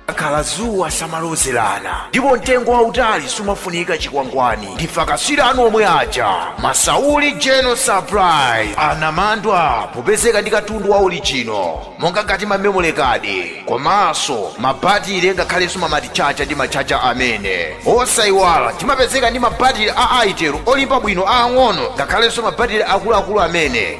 likakhala dzuwa samalozerana ndipo mtengo wautali sumafunika chikwangwani ndife akaswiri anu omwe aja masauli general surprise anamandwa popezeka ndi katundu wa orijino monga ngati mamemory card komanso mabatire ngakhalenso mamatichacha ndi machacha amene osayiwala timapezeka ndi mabatire a Itel olimba bwino aang'ono ngakhalenso mabatire akuluakulu amene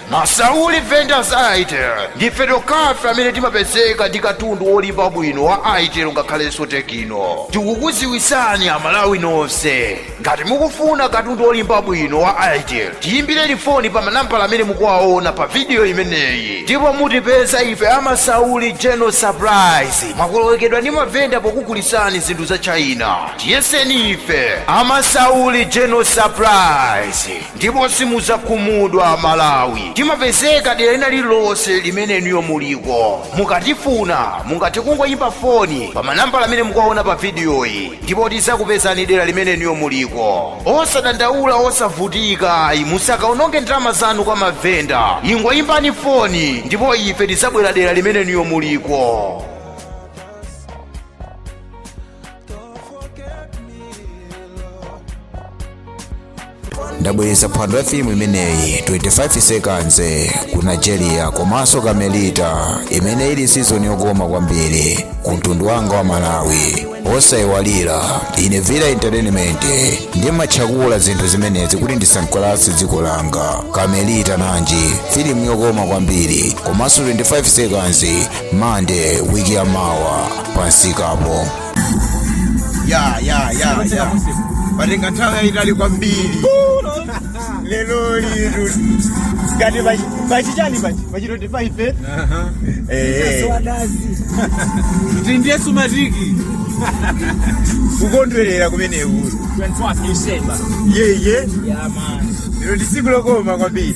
Ma Sauli vendors a Itel ndife tokhafe amene timapezeka ndi katundu wolimba bwino wa Itel ngakhalenso Tecno. Tikukuziwitsani a Malawi nonse, ngati mukufuna katundu wolimba bwino wa Itel, tiyimbireni foni pa manambala amene mukuwaona pa video imeneyi ndipo mutipeza ife a Ma Sauli General Surprise mwakolowekedwa ndi mavenda pokugulitsani zinthu za China. Tiyeseni ife a Ma Sauli General Surprise. ndipo simudzakhumudwa amalawi timapezeka dera lina lililonse limene inuyo muliko mukatifuna mungathe kungoyimba foni pa manambala amene mukuwaona pa vidiyoyi ndipo tidzakupezani dera limene inuyo muliko osadandaula osavutika ayi musakaononge ndalama zanu kwa mavenda ingoyimbani foni ndipo ife tidzabwera dera limene inuyo muliko ndabweretsa phwando ya filimu imeneyi 25 seconds ku nigeria komanso kamelita imene ili sizoni yokoma kwambiri ku mtundu wanga wa malawi osayiwalira ine villa entertainment ndimatchakula zinthu zimenezi kuti ndisangalatse dziko langa kamelita nanji filimu yokoma kwambiri komanso 25 seconds mande wiki ya mawa pamsikapo ya ya ya ya patenga nthawi yayitali kwambiri lero lili ngati pachichani pachi pachi 25 kuti ndiye sumatiki kukondwerera kumeneku yeye lero ndi tsiku lokoma kwambiri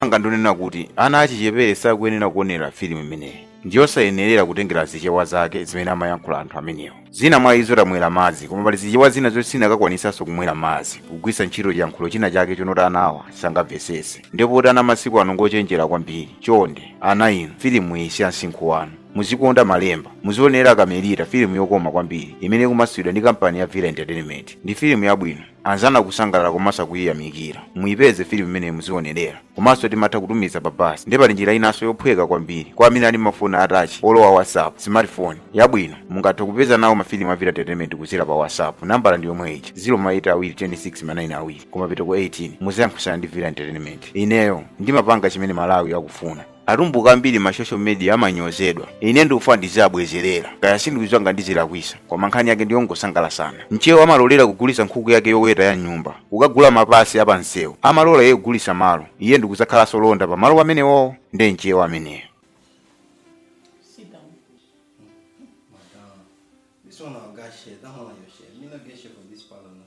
anga ndonena kuti ana achichepere sakuyenera kuonera filimu imeneyi ndiyosayenerera kutengera zichewa zake zimene amayankhula anthu amenewa zina mwa izo tamwera madzi koma pali zichewa zina zoti sindikanakwanisanso kumwera madzi kugwisa ntchito chiyankhulo china chake chonoti anawa sangamvesese ndipoti ana masiku ano ngochenjera kwambiri chonde ana inu filimu iyi si ya msinkhu wanu muzikonda malemba muzionera kamelita filimu yokoma kwambiri imene ikumasulidwa ndi kampani ya villa entertainment ndi filimu yabwino anzanu akusangalala komanso akuyiyamikira muyipeze filimu imeneyi muzionelera komanso timatha kutumiza pa basi ndipo pali njira inanso yophweka kwambiri kwa amene ali mafoni atachi olowa whatsapp smartphone yabwino mungathe kupeza nawo mafilimu a villa entertainment kuzera pa whatsapp nambala ndi yomwe ija 0 maita awiri 26 manayini awiri koma mapeto ake 18 muziyankhusana ndi villa entertainment ineyo ndimapanga chimene malawi akufuna Atumbuka ambiri ma social media amanyozedwa. Ine ndikufuna ndiziabwezerera. Kaya sindikudziwa ngati ndizilakwisa, koma nkhani yake ndiyongosangalasana. Mchewa amalolera kugulitsa nkhuku yake yoweta ya m'nyumba kukagula mapasi a pa msewu, amalola iye kugulitsa malo. Iye ndikudzakhalanso londa pa malo pamenewowo? Nde mchewa ameneyo. Sit down. Madam, this one I'll get share. That one I'll share. Me not get share for this parlor now.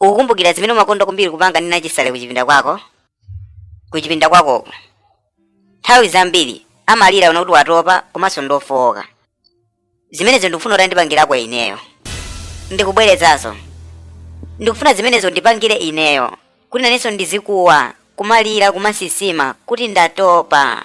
ukukumbukira zimene umakonda kwambiri kupanga ndi nachisale kuchipinda kwako kuchipinda kwakoko nthawi zambiri amalira kunena kuti watopa komanso ndofowoka zimenezo ndikufuna kuti andipangirako ineyo ndikubwerezanso ndikufuna zimenezo ndipangire ineyo kuti nanenso ndizikuwa kumalira kumasisima kuti ndatopa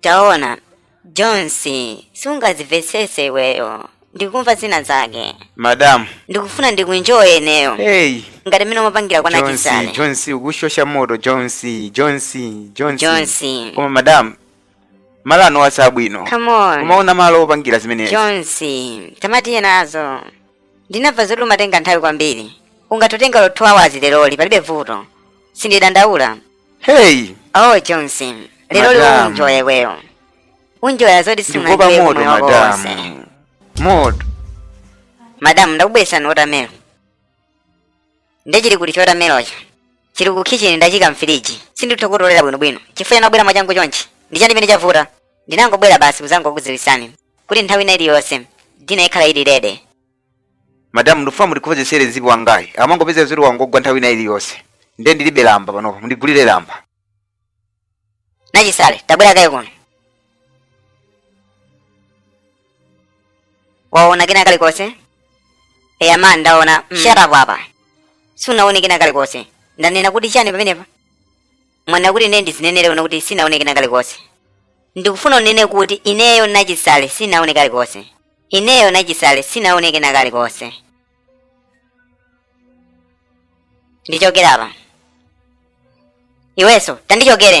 taona jones sungazimvetsese iweyo ndikumva zina zake madamu ndikufuna ndikuenjoye ineyo hey ngati mmene umapangira kwa nachisale jones ukushosha moto jones jones jones jones koma madamu malo anowa si abwino come on kumaona malo opangira zimenezi jones tamatiyeni nazo ndinamva zoti umatenga nthawi kwambiri ungathe kutenga 2 hours leroli palibe vuto sindidandaula Hey, Oh Jones, lero lino unjoya iweyo. Unjoya zoti ndikuopa simunanjoye moto mmoyo mwako wonse. madamu. Moto. Madamu ndakubweresani watermelon. Nde chili kuti chotamelocho. Chili ku kitchen ndachika mfiriji. Sinditha kutolera bwinobwino. Chifukwa ndinabwera mwachangu chonchi. Ndi chani chimene chavuta. Ndinangobwera basi kuzangokudziwisani. Kuti nthawi ina iliyonse. Dina ikhala ili ready. madamu ndikufuna mundikonzesere zipi wangayi amangopeza zoti wangogwa nthawi ina iliyonse nde ndilibe lamba panopa mundigulire lamba Nachisale, tabwera kaye kuno. Waona kena kalikonse? Eya madam ndaona. Mm. Shut up apa. Sunaone kena kalikonse. Ndanena kuti chani pamenepa? mwanena kuti ine ndizinenere kuno kuti sinaone kena kalikonse ndikufuna unene kuti ineyo nachisale sinaone kalikonse ineyo nachisale sinaone kena kalikonse ndichokere apa iwenso tandichokere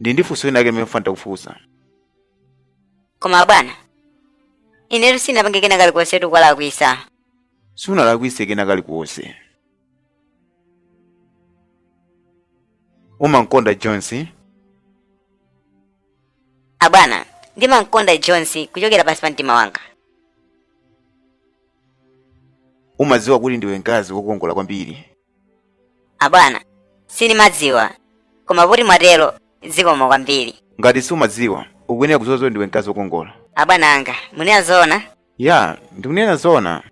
ndili ndi funso linake limene mfuna ntakufunsa koma abwana inetu sinapange kena kalikonsetu kuwalakwisa sunalakwise kena kalikonse umankonda jones abwana ndimankonda jones kuchokera pansi pa mtima wanga umadziwa kuti ndiwe mkazi wokongola kwambiri abwana sindimadziwa koma poti mwatero zikomo kwambiri ngati sumadziwa ukuyenera kudziwa zoti ndiwe mkazi wokongola abwana anga mukunena zoona ya ndikunena zoona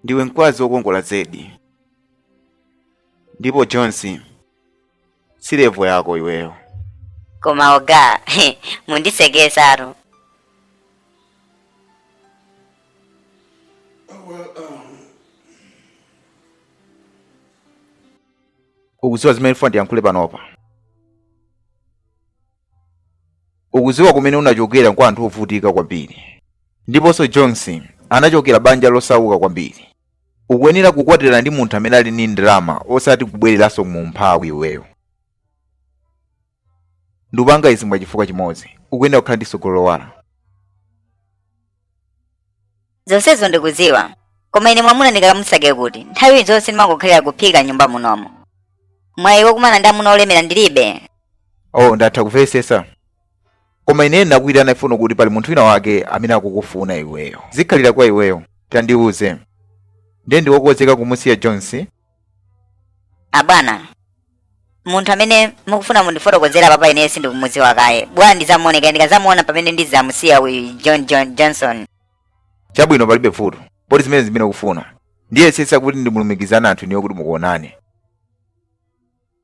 ndiwe mkazi wokongola zedi ndipo jones si levo yako iweyo koma oga mundisekesatu ukuziwa zimene ndifuna ndiyankhule panopa ukuziwa kumene unachokera kwa anthu ovutika kwambiri ndiponso johnson anachokera banja losauka kwambiri ukuyenera kukwatira ndi munthu amene ali ndi ndalama osati kubwereranso mu umphawi iweyo ndupanga izi mwa chifukwa chimodzi ukuyenera kukhala ndi tsogolo lowala zonsezo ndikudziwa koma ine mwamuna ndikakamusake kuti nthawi zonse ndimangokhalira kuphika m'nyumba munomo mwayi wokumana ndi amuna olemera ndilibe oh ndatha kumvetsetsa koma ine ndakuyitanira kuno kuti pali munthu wina wake amene akukufuna iweyo zikhalira kwa iweyo tandiuze ndiye ndiwe wokonzeka kumusiya jones abwana munthu amene mukufuna mundifotokozera apapa ineyo sindikumudziwa kaye bola ndidzamuoneka ndikazamuona pamene ndidzamusiya uyu john john johnson chabwino palibe vuto poti ndi zimene ukufuna ndiyesesa kuti ndikulumikizani anthu inuyo kuti mukaonane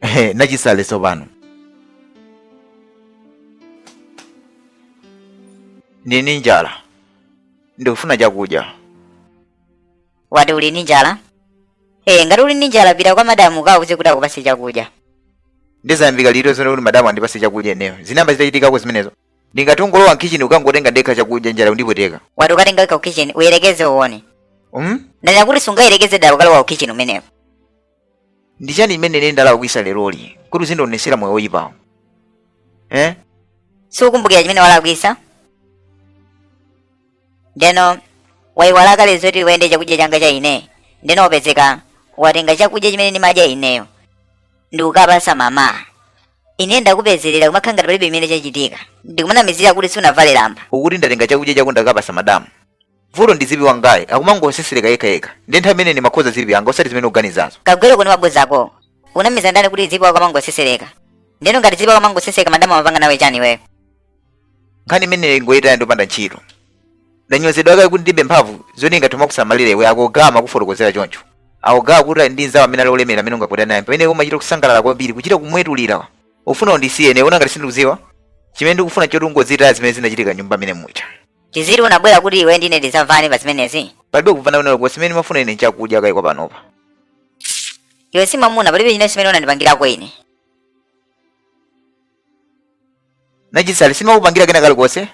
Ehe, Nachisale tsopano ndili ndi njala ndikufuna chakudya wati uli ndi njala ee ngati uli ndi njala pita kwa madamu ukauze kuti akupase chakudya ndiye zayambika liti zonena kuti madamu andipase chakudya ineyo zinamba zitachitikako zimenezo ndingangolowa mkhichini nkukangotenga ndekha chakudya njala ikundipweteka wati ukatenga ku kitchen uyerekeze uone um? ndanena kuti usayerekeze dala kukalowa ku kitchen kumeneko ndi chani chimene ine ndalakwisa leroli kuti uzindionesera moyo woyipawu eh? sukukumbukira chimene walakwisa ndeno waiwala kale zoti wayenda ndi chakudya changa cha ine ndeno wapezeka watenga chakudya chimene ndimadya ineyo ndikukapasa mama ine ndakupezerera kumakhala ngati palibe chimene chachitika ndikumanamizira kuti sunavale lamba ukuti ndatenga chakudya chako ndakapasa madamu vuto ndi zipi wangayi akumangosesereka yekha yekha ndiye nthawi imene ndimakonza zipi yanga osati zimene ukuganizazo kagwere kuni mabodza ako unamiza ndani kuti zipi akamangosesereka ndeno ngati zipi akamangosesereka madamu amapanga nawe chani iweyo nkhani imeneyo ingoyitaya ndopanda ntchito ndanyozedwa kale kuti ndilibe mphamvu zoti ndingathe kuma kusamalira iwe akuchita kuma kufotokozera choncho a ogawa kuti ali ndi nzawo amene ali olemera amene ungapite naye pamene umachita kusangalala kwambiri kuchita kumwetulira ufuna undisiye ine una ngati sindikuziwa chimene ndikufuna nchoti ungozitaya zimene zinachitika nyumba amene mucha tiziti unabwera kuti iwe ndine tidzamvane pa zimenezi palibe kumvana kunena kuposa imene ndimafuna ine nchakudya kaya kwa panopa iwe si mwamuna palibe chimene chimene unandipangirako ine nachisale sindimakupangira kena kalikonse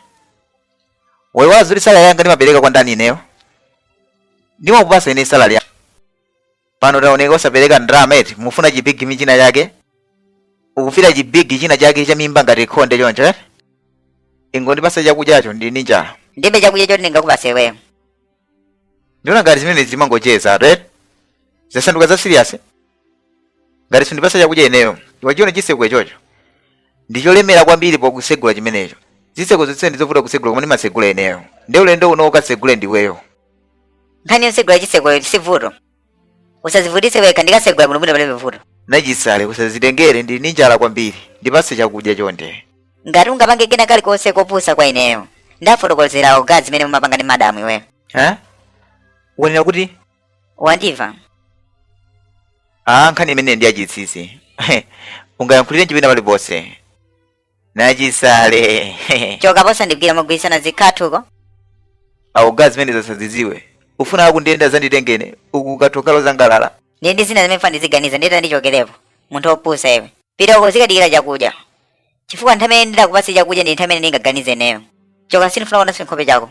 waiwala zoti salari yanga ndimapereka kwa ndani ineyo ndimakupasa ine salari ya pano taoneka osapereka ndalama eti mufuna chibigi china chake ukufira chibigi china chake cha mimba ngati khonde choncho eti ingondipasa chakudyacho ndili ndi njala ndilibe chakudya choti ndingakupase iweyo ndimaona ngati zimenezi timangocheza eti eti zasanduka za serious ngati sundipasa chakudya ineyo wachiona chiseko ichocho ndicholemera kwambiri pokusegula chimenecho ziseko zonse ndizovuta kusegula koma ndimasegula ineyo nde ulendo uno ukasegule ndiweyo nkhani yosegula chisekoyo sivuto usazivutise wekha ndikasegula bwinobwino palibe vuto nachisale usazitengere ndili ndi njala kwambiri ndipase chakudya chonde ngati ungapange kena kalikonse kopusa kwa ineyo ndafotokozera oga zimene mumapanga ndi madamu iweyo ha wanena kuti wandiva a nkhani imeneyi ndi yachinsinsi ungayankhulirenji pena paliponse nachisale choka apo usandigwire mogwirizana zikhathuko oga zimenezi zasadziziwe ufuna akundiyenda tizangotengana uku kuti ukhale uzisangalala ndiye ndi zina zimene ufuna ndiziganiza ndiye tandichokelepo munthu wopusa iwe pita uko uzikadikira chakudya chifukwa nthawi imene ndidzakupatsa chakudya ndi nthawi imene ndingaganize ineyo choka sindifuna kuona chinkhope chako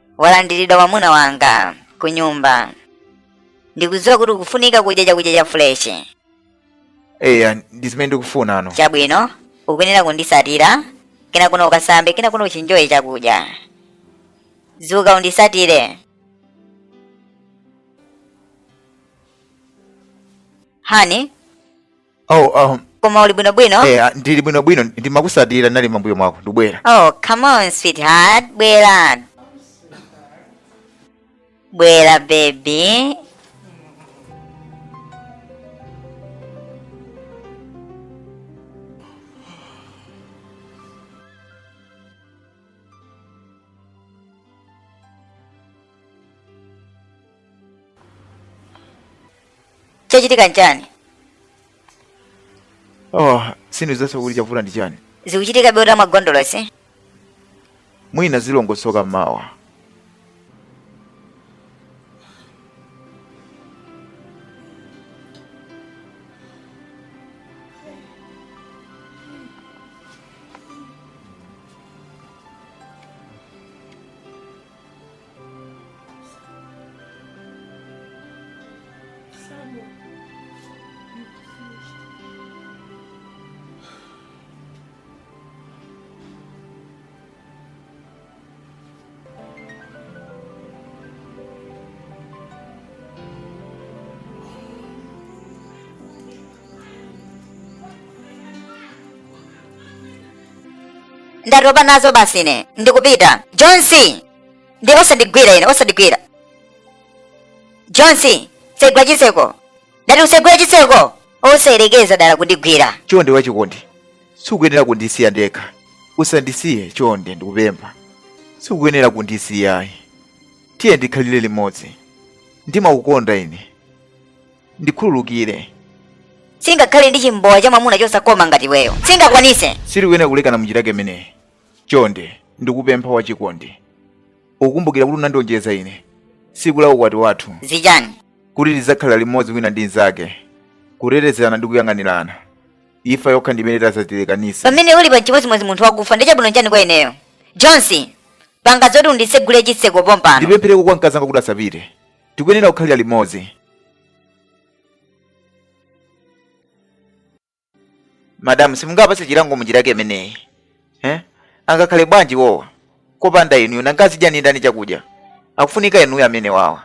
walandiridwa mwamuna wanga ku nyumba ndikudziwa kuti ukufunika kudya chakudya cha fuleshi eya ndi zimene ndikufunano chabwino ukuyenera kundisatira kenako no ukasambe kenako no uchinjoye chakudya dzuka undisatire hani oh um, koma uli bwinobwino eh, ah, ndili bwinobwino ndimakusatira ndinali mambuyo mwako ndikubwera oh come on sweetheart bwera bwera baby chachitika nchani oh sindikudziwanso kuti chavuta ndi chani zikuchitika beuta mwa gondola si mwina zilongosoka mawa ndatopa nazo basi ine ndikupita jonsi ndiye osandigwira ine osandigwira jonsi tsegula chitseko ndati utsegule chitseko osayerekeza dala kundigwira chonde wachikondi sikuyenera kundisiya ndekha usandisiye chonde ndikupempha sikuyenera kundisiya ayi tiyeni tikhalire limodzi ndimakukonda ine ndikhululukire singakhale ndi chimbowa cha mwamuna chosakoma ngati iweyo singakwanise sitikuyenera kulekana munjira yake imeneyi chonde ndikupempha wachikondi ukumbukira kuti unandilonjeza ine tsiku la ukwati wathu zachani kuti tidzakhala limodzi wina ndi mnzake kutetezerana ndi kuyang'anirana imfa yokha ndimene idzatilekanisa pamene ulipa nchimodzimodzi munthu wakufa ndiye chabwino nchani kwa ineyo jonsi panga zoti unditsegulire chitseko pompano ndipemphereko kwa mkazanga kuti asapite tikuyenera kukhalira limodzi madamu simungawapatse chilango munjira yake imeneyi eh? angakhale bwanji iwowa kopanda inuyo nanga azidya ndi ndani chakudya akufunika inuyo amenewawa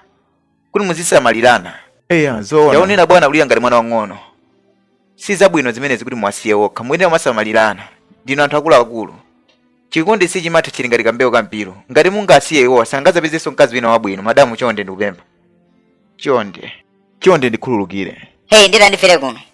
kuti muzisamalirana eya zoona taonani bwana kulira ngati mwana wang'ono si zabwino zimenezi kuti muwasiye okha muyenera kumasamalirana ndinu anthu akuluakulu chikondi sichimatha chili ngati kambewu ka mpiru ngati mungasiye iwowa sangazapezenso mkazi wina wabwino madamu chonde ndikupempha chonde chonde ndikhululukire heyi ndiye ndifere kuno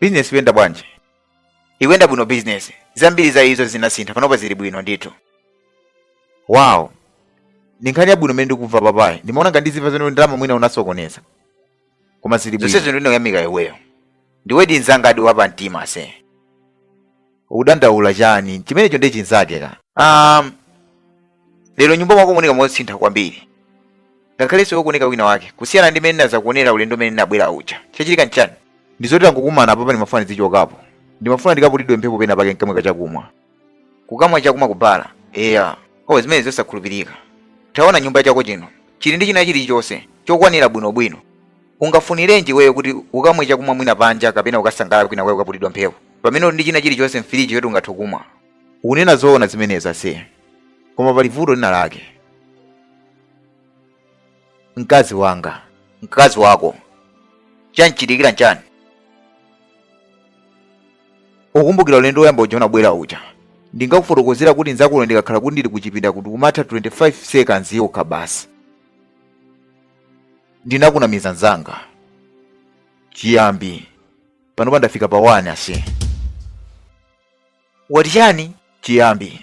bizinesi ikuyenda bwanji ikuyenda bwino bizinesi zambiri za izo zinasintha panopa zili bwino ndithu wow ndi nkhani yabwino imene ndikumva apayi ndimaona ngati ndizimva zoti ndalama mwina unasokoneza koma zili bwino zonsezo ndine woyamika iweyo ndiwedi nzangadi wapa mtima see ukudandaula chani chimenecho ndiye chinzakeka um, lero mnyumba mwako mukuoneka mosintha kwambiri ngakhalenso iwe ukuoneka wina wake kusiyana ndi mmene nazakuonera ulendo umene nabwera uja chachitika nchani ndi zoti tangokumana apapa ndimafuna ndizichokapo ndimafuna ndikapitidwe mphepo pena pake nkamweko chakumwa kukamwa chakumwa kubala eya o zimenezi nzosakhulupirika taona nyumba mwako muno chili ndi china chilichonse chokwanira bwinobwino ungafunirenji iweyo kuti ukamwe chakumwa mwina panja kapena ukasangalala kwinakwake ukaputidwa mphepo pamene uli ndi china chilichonse mfiriji yoti ungathe kumwa ukunena zoona zimenezi ase koma pali vuto lina lake mkazi wanga mkazi wako chamchitikira nchani ukumbukira ulendo woyamba uja unabwera uja ndinkakufotokozera kuti nzakone ndikakhala kuti ndili kuchipinda kuti ndimatha 25 seconds yokha basi ndinakunamiza nzanga chiyambi panopa ndafika pa 1 ase wati chani chiyambi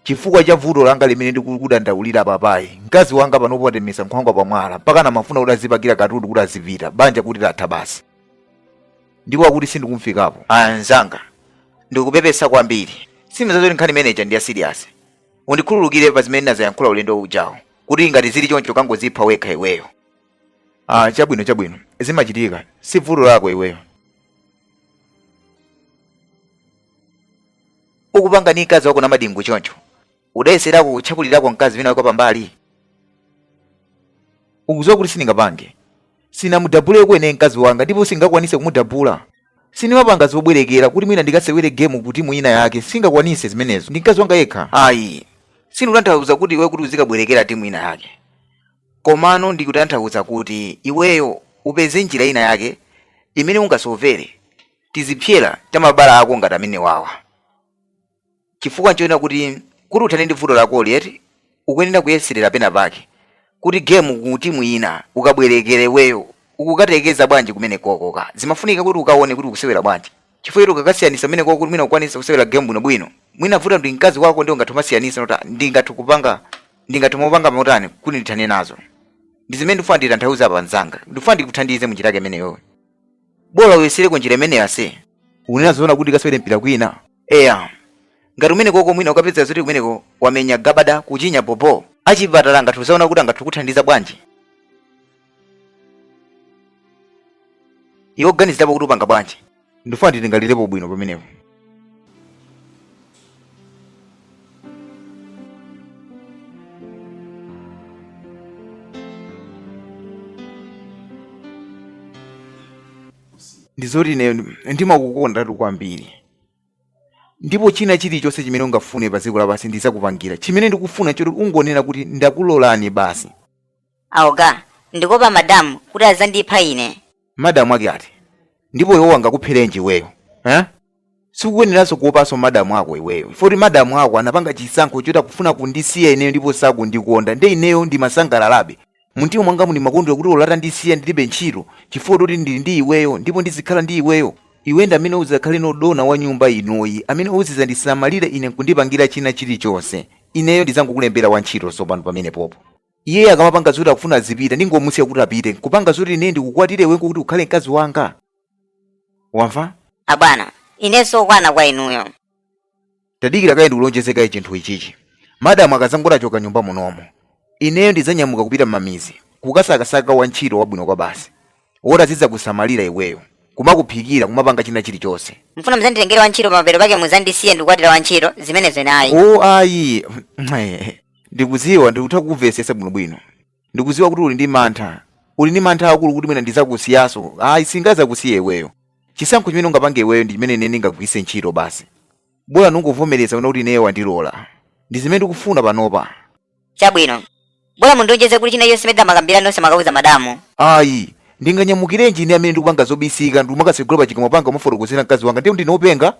chifukwa cha vuto langa limene ndikukudandaulira apali mkazi wanga panopo watemesa nkhwangwa pamwala mpaka amafuna kuti azipakira katundu kuti azipita banja kuti latha basi ndipo akuti sindikumfikapo mzanga ndikupepesa kwambiri sindimadziwa zoti nkhani imene ija ndi yasiriyasi undikhululukire pa zimene ndinadzayankhula ulendo ujawu kuti ngati zili choncho kangozipha wekha iweyo ah chabwino chabwino zimachitika si vuto lako iweyo ukupanga ndi mkazi wako ndi madingo choncho udayeserako kutchakulirako mkazi wina wako pambali ukudziwa kuti sindingapange sinamudabule kwenikweni mkazi wanga ndipo sindingakwanise kumudabula sindimapanga zobwerekera kuti mwina ndikasewere gemu ku timu ina yake sindingakwanise zimenezo ndi mkazi wanga yekha ayi sindikutanthauza kuti iweyo kuti uzikabwerekera timu ina yake komano ndikutanthauza kuti iweyo upeze njira ina yake imene ungasovere tizipsera ta mabala ako ngati amenewawa chifukwa nchoona kuti kuti uthane ndi vuto lakoli eti ukuyenera kuyeserera pena pake kuti game ku timu ina ukabwerekere iweyo ukukatakasa bwanji kumenekoko zimafunika kuti ukaone kuti ukusewera bwanji chifukwa eti ukakasiyanisa kumenekoko kuti mwina ukwanisa kusewera game bwinobwino mwina vuto ndi mkazi wako ndiye ungathe kumasiyanisa not ndingathe kupanga ndingathe kumapanga motani kuti ndithane nazo ndi zimene ndifuna nditanthauza apa mzanga ndifuna ndikuthandize munjira yake imeneyoyo bola uyesereko njira imeneyo ase unena zoona kuti ndikasewere mpira kwina eya ngati kumenekoko mwina ukapeza zoti kumeneko wamenya gabada kuchinya bobo achipatala angathe kuzaona kuti angathe kukuthandiza bwanji iwe ganizirapo kuti upanga bwanji ndifuna nditalingalirapo bwino pamenepo ndizoti ine ndimakukondatu kwambiri ndipo china chilichonse chimene ungafune pa dziko lapansi ndidzakupangira chimene ndikufuna nchoti ungonena kuti ndakulolani basi Abwana ndikuopa madam kuti azandipha ine. Madam ake ati? Ndipo iwowo angakuphelenji iweyo eh? Sukuyeneraso kuopaso madam ako iweyo chifukwa kuti madam ako anapanga chisankho choti akufuna kundisiya ineyo ndipo sakundikonda nde ineyo ndimasangalalabe mumtima mwangamu ndimakondwera kuti olo atandisiya ndilibe ntchito chifukwa choti ndili ndi iweyo ndipo ndizikhala ndi iweyo. Iwe ndi amene uzakhale dona wa nyumba inoyi amene uzizandisamalira ine nkundipangila china chilichonse ineyo ndizangokulembela wantchito sopano pamenepopo. iye akamapanga zoti akufuna azipita ndingomusiya kuti apite kupanga zoti ine ndikukwatire iwe kuti ukhale mkazi wanga wamva abwana ine nzosakwana kwa inuyo tadikira kaye ndikulonjeze kaye chinthu ichichi madamu akazangoti achoka nyumba munomo ineyo ndidzanyamuka kupita m'mamidzi kukasakasaka wantchito wabwino kwabasi woti azidzakusamalira iweyo kumakuphikira kumapanga china chilichonse mfuna muzanditengere wantchito pamapeto pake muzandisiye nkukwatira wantchito zimenezo nayi o ayi Ndikudziwa ndikutha kukumvetsetsa bwinobwino. Ndikudziwa kuti uli ndi mantha. Uli ndi mantha akulu kuti mwina ndidzakusiyanso. Ayi, sindingadzakusiye iweyo. Chisankho chimene ungapange iweyo ndi chimene ine ndingagwiritse ntchito basi. Bola ungovomereza kunena kuti ineyo wandilola. Ndi zimene ndikufuna panopa. Chabwino. Bola mundilonjeze kuti china chilichonse chimene tidamakambirana nonse musakauze madamu. Ayi. Ndinganyamukirenji ine amene ndikupanga zobisika nkumakatsekula pachikamwa panga kumufotokozera mkazi wanga ndiye kuti ndine wopenga?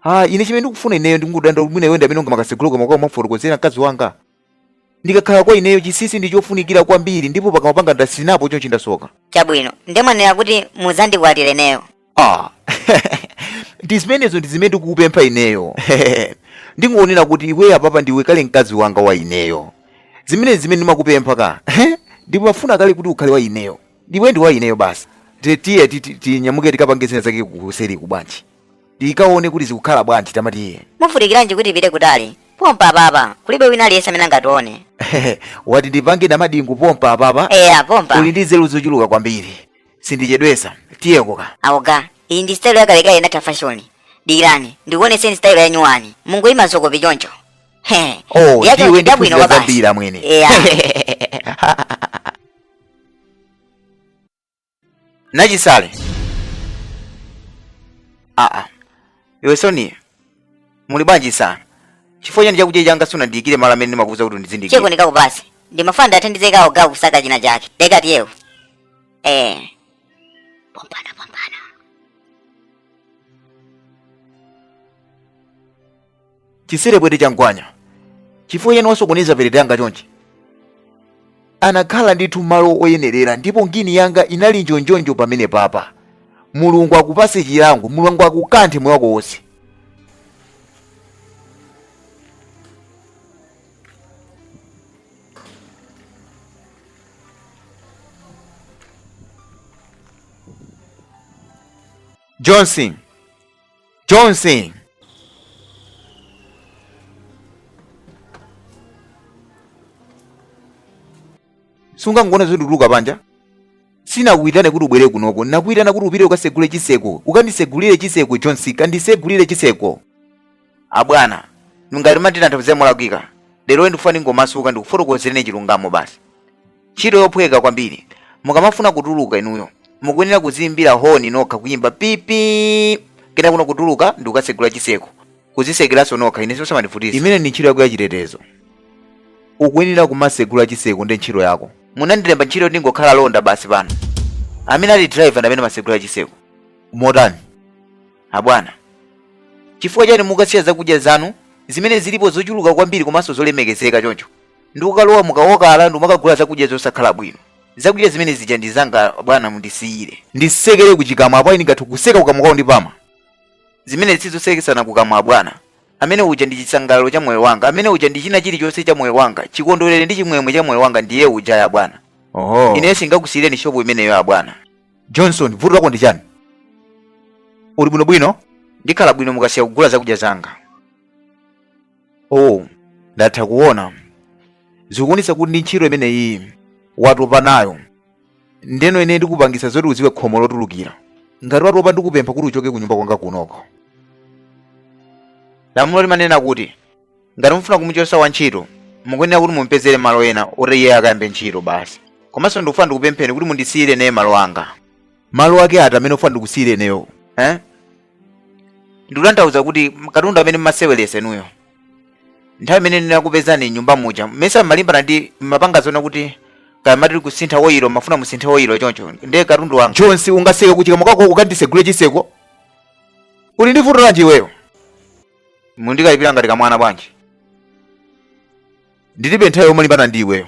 ah ine chimene ndikufuna ineyo ndikungodanda mwina iwe ndi amene ungamakasegula pakamwa kumufotokozera mkazi wanga ndikakhala kwa ineyo chisisi ndi chofunikira kwambiri ndipo pakamwa panga ndatsinapo chonchi ndasoka chabwino nde mwanena kuti mudzandikwatire ineyo ah ndi zimenezo ndi zimene ndikukupempha ineyo ndingonena kuti iwe apapa ndiwe kale mkazi wanga wa ineyo zimenezi zimene ndimakupempha ka ndipo ndimafuna kale kuti ukhale wa ineyo ndiwedi wa ineyo basi Ti- tiye ti- ti- tinyamuke tikapange zinazake kuseriku bwanji tikaone kuti zikukhala bwanji tama tiye muvutikiranji kuti tipite kutali pompa apapa kulibe wina aliyense amene angatione wati ndipange namadingu pompa apapa eya pompa uli ndi nzeru zochuluka kwambiri sindichedwesa tiyeko ka abwana iyi ndi style yakalekale inatha fashoni dikirani ndikuonetseni style yanyuwani mungoyima zokopa choncho He, oh yacho ndiwe ndi ndabwino kuza kwabasi. zambiri amwene Eya. nachisale aa iwe soni muli bwanji sana chifukwa chani chakudya changa sunandiyikire malo amene ndimakuuza kuti uzindiyikira cheko ndikakupasi ndimafuna ndithandizeko abwana kusaka china chake dekati yewo eh pompana pompana chisire bwete cha mgwanya chifukwa chiyani wasokoneza perete yanga chonchi anakhala ndithu malo oyenerera ndipo ngini yanga inali njonjonjo pamene papa mulungu akupase chilango mulungu akukanthe moyo wako wonse johnson johnson sungangoona zoti ndikutuluka panja sinakuitane kuti ubwere kunoko nakuitana kuti upite ukasegule chiseko ukandisegulire chiseko johnson kandisegulire chiseko abwana ngati mumati ndinathapo kuzera molakwika lero ndikufuna ndingomasuka ndikufotokozereni chilungamo basi ntchito yophweka kwambiri mukamafuna kutuluka inuyo mukuyenera kuziimbira honi nokha kuyimba pipi kena kuno kutuluka ndi kukatsegula chiseko kuzisekeranso nokha ine sisamandivutisa imene ndi ntchito yako ya chitetezo ukuyenera kumatsegula chiseko ndi ntchito yako munandilemba ntchito yoti ndingokhala londa basi pano amene ali driver ndi amene amatsegula chiseko motani abwana chifukwa chani mukasiya zakudya zanu zimene zilipo zochuluka kwambiri komanso zolemekezeka choncho ndi kukalowa mukaokala ndi kumakagula zakudya zosakhala bwino zakudya zimene zija ndi zanga bwana mundisiyire nditsekere kuchikamwa apo ine ngathu kutseka kukamwa kwawo ndi pama zimene sizotsekesana kukamwa bwana amene uja ndi chisangalalo cha moyo wanga amene uja ndi china chilichonse cha moyo wanga chikondwerere ndi chimwemwe cha moyo wanga ndiye uja abwana oho ineyo singakusiyireni shopu imeneyo abwana johnson vuto lako ndi chani uli bwinobwino ndikhala bwino mukasiya kugula zakudya zanga oh ndatha kuona zikuonetsa kuti ndi ntchito imeneyi watopa nayo ndeno ine ndikupangisa zoti udziwe khomo lotulukira ngati watopa ndikupempha kuti uchoke kunyumba kwanga kunoko lamulo limanena kuti ngati mufuna kumuchotsa wantchito mukuyenera kuti mumpezere malo ena oti iye akayambe ntchito basi komanso ndikufuna ndikupempheni kuti mundisiyire ineyo malo anga malo ake ati amene ufuna ndikusiyire ineyo eh? ndikutanthauza kuti m- katundu amene mmaseweresa inuyo nthawi imene ndinakupezani mnyumba muja mmesa mmalimbana ndi mmapanga zonena kuti kaya mumati kusintha oyilo mafuna musinthe oyilo choncho ndiye katundu wanga johnson ungatseke kuchikamwa kwako ukandisegule chiseko uli ndi vuto lanji iweyo mukundikalipira ngati kamwana bwanji ndilibe nthawi yomalimbana ndi iweyo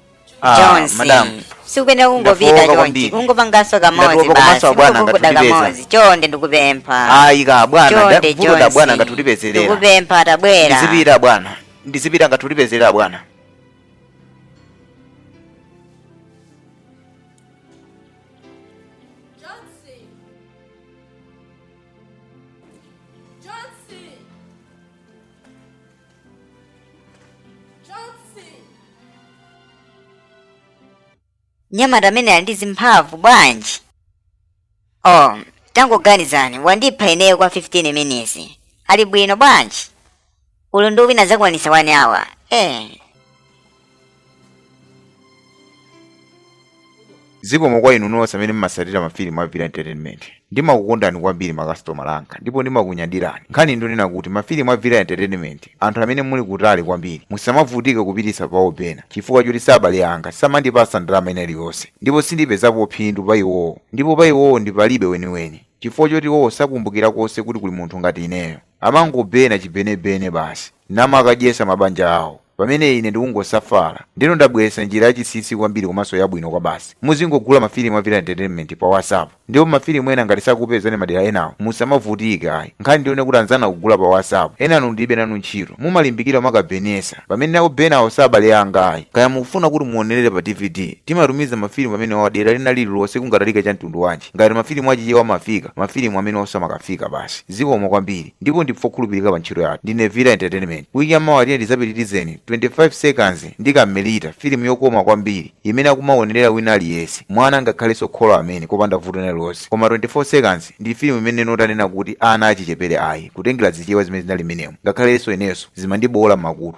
Ah, Jones. madam. Sukuyenera kungopita Ndafowoka chonchi. kwambiri. Kungopanganso kamodzi Ndafowoka basi. komanso abwana Kungokuda angathe kutipeza. kamodzi. Chonde ndikupempha. ayi ka bwana Chonde nda- vuto da bwana Jones. angathe kutipezerera Ndikupempha tabwera. ndizipita bwana ndizipita angathe kutipezerera bwana Johnson! Johnson! mnyamata amene ali ndi zimphamvu bwanji oh tangoganizani wandipha ineyo kwa 15 minutes ali bwino bwanji ulendo wina azakwanisa 1 hour eh zikomo kwa inu nonse amene mmasatira mafilimu a villa entertainment ndimakukondani kwambiri makasitomala anga ndipo ndimakunyadirani nkhani ndi yonena kuti mafilimu a villa entertainment anthu amene muli kutali kwambiri musamavutike kupititsa pa obena chifukwa choti si abale anga samandipasa ndalama ina iliyonse ndipo sindipezapo phindu pa iwowo ndipo pa iwowo ndi palibe weniweni chifukwa choti iwowo sakumbukira konse kuti kuli munthu ngati ineyo amangobena chibenebene basi namakadyesa mabanja awo pamene ine ndikungosafala ndiyeno ndabweretsa njira yachinsinsi kwambiri komanso yabwino kwabasi muzingogula mafilimu a villa entertainment pa whatsapp ndipo mafilimu ena ngati sakupezani madera enawo musamavutike ayi nkhani ndi yonena kuti anzanu akugula pa whatsapp enanu ndilibe nanu ntchito mumalimbikira kukabenesa pamene nawo obenawo si abale anga ayi kaya mukufuna kuti muonerere pa dvd timatumiza mafilimu amenewa dera lina lililonse kungatalika cha mtundu wanji ngati mafilimu achichewa amafika mafilimu amenewonso amakafika basi zikomo kwambiri ndipo ndife okhulupilika pa ntchito yathu ndine villa entertainment week ya mawa tiyeni tidzapitirizeni 25 seconds ndi kamelita filimu yokoma kwambiri imene akumaonerera wina aliyense mwana ngakhalenso kholo amene kopanda vuto lina lonse koma 24 seconds ndi filimu imene ndinanena kuti ana achichepere ayi kutengera zichewa zimene zinali m'menemo ngakhalenso inenso zimandibowola m'makutu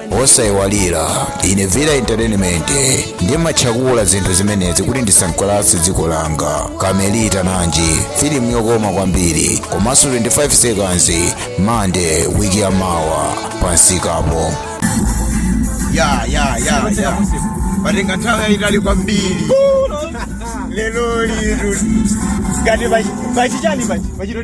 osaiwalira ine villa entertainment ndimatchakula zinthu zimenezi kuti ndisangalatse dziko langa kamelita nanji filimu yokoma kwambiri komanso 25 seconds mande wiki ya mawa pamsikapo ya ya ya ya patenga nthawi yayitali kwambiri lero liri ngati pachichani pachi pachito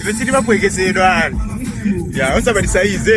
ife sitimaphweketsedwa ayi ya osamatisaiza